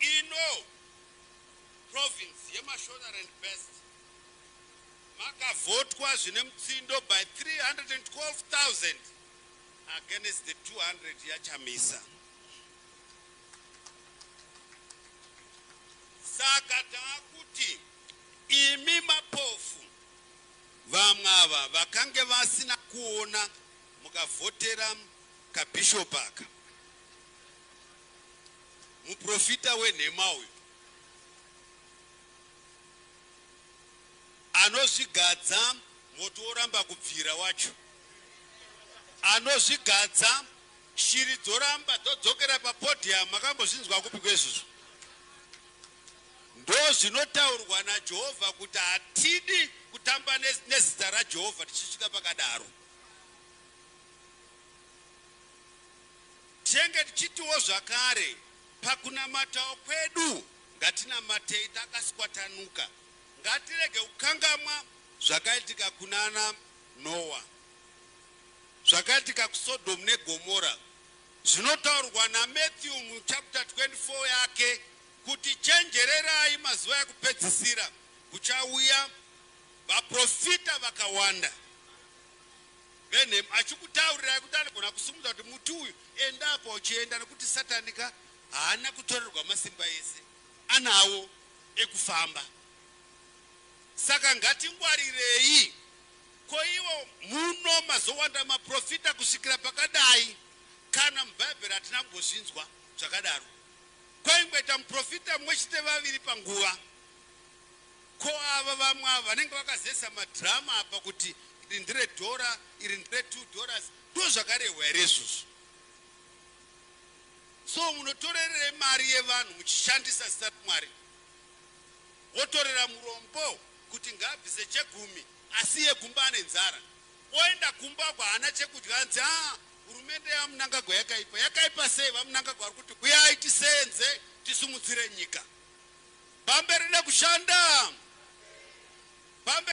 Ino province yeMashonaland Best makavhotwa zvine mutsindo by 312,000 against the 200 yaChamisa. Saka taakuti imi mapofu vamwe ava vakange vasina kuona mukavhotera kabishop aka. Muprofita wenhema uyu anozvigadza moto woramba kubvira wacho anozvigadza shiri dzoramba dzodzokera papodium makambozvinzwa kupi kwezvizvo ndozvinotaurwa najehovha kuti hatidi kutamba nezita rajehovha tichisvika pakadaro Tinenge tichitiwo zvakare, Pakunamatawo kwedu ngatinamatei takaswatanuka. Ngatirege kukangamwa zvakaitika kunana Noa, zvakaitika kuSodom neGomora. Zvinotaurwa naMatthew muchapter 24 yake kuti chenjererai mazuva ekupedzisira kuchauya vaprofita vakawanda. Benham achikutaurirai kuti anogona kusimudza kuti muti uyu enda apa uchienda nekuti Satani ka haana kutorerwa masimba ese anawo ekufamba saka ngatingwarirei ko ivo muno mazowanda maprofita kusvikira pakadai kana mubhaibheri hatina kumbozvinzwa zvakadaro kwaingoita muprofita mumwe chete vaviri panguva Ko ava vamwe ava vanenge vakazesa madrama apa kuti iri ndire dhora iri ndire two dollars ndozvakarehwa here izvozvo. So munotorerei mari yevanhu muchishandisa zita raMwari wotorera murombo kuti ngaabvise chegumi asiye kumba ane nzara oenda kumba uko haana chekudya anzi haa hurumende yaMnangagwa yakaipa. Yakaipa sei? VaMnangagwa vari kuti huyai tiseenze tisumudzire nyika. Pamberi nekushanda. Pamberi.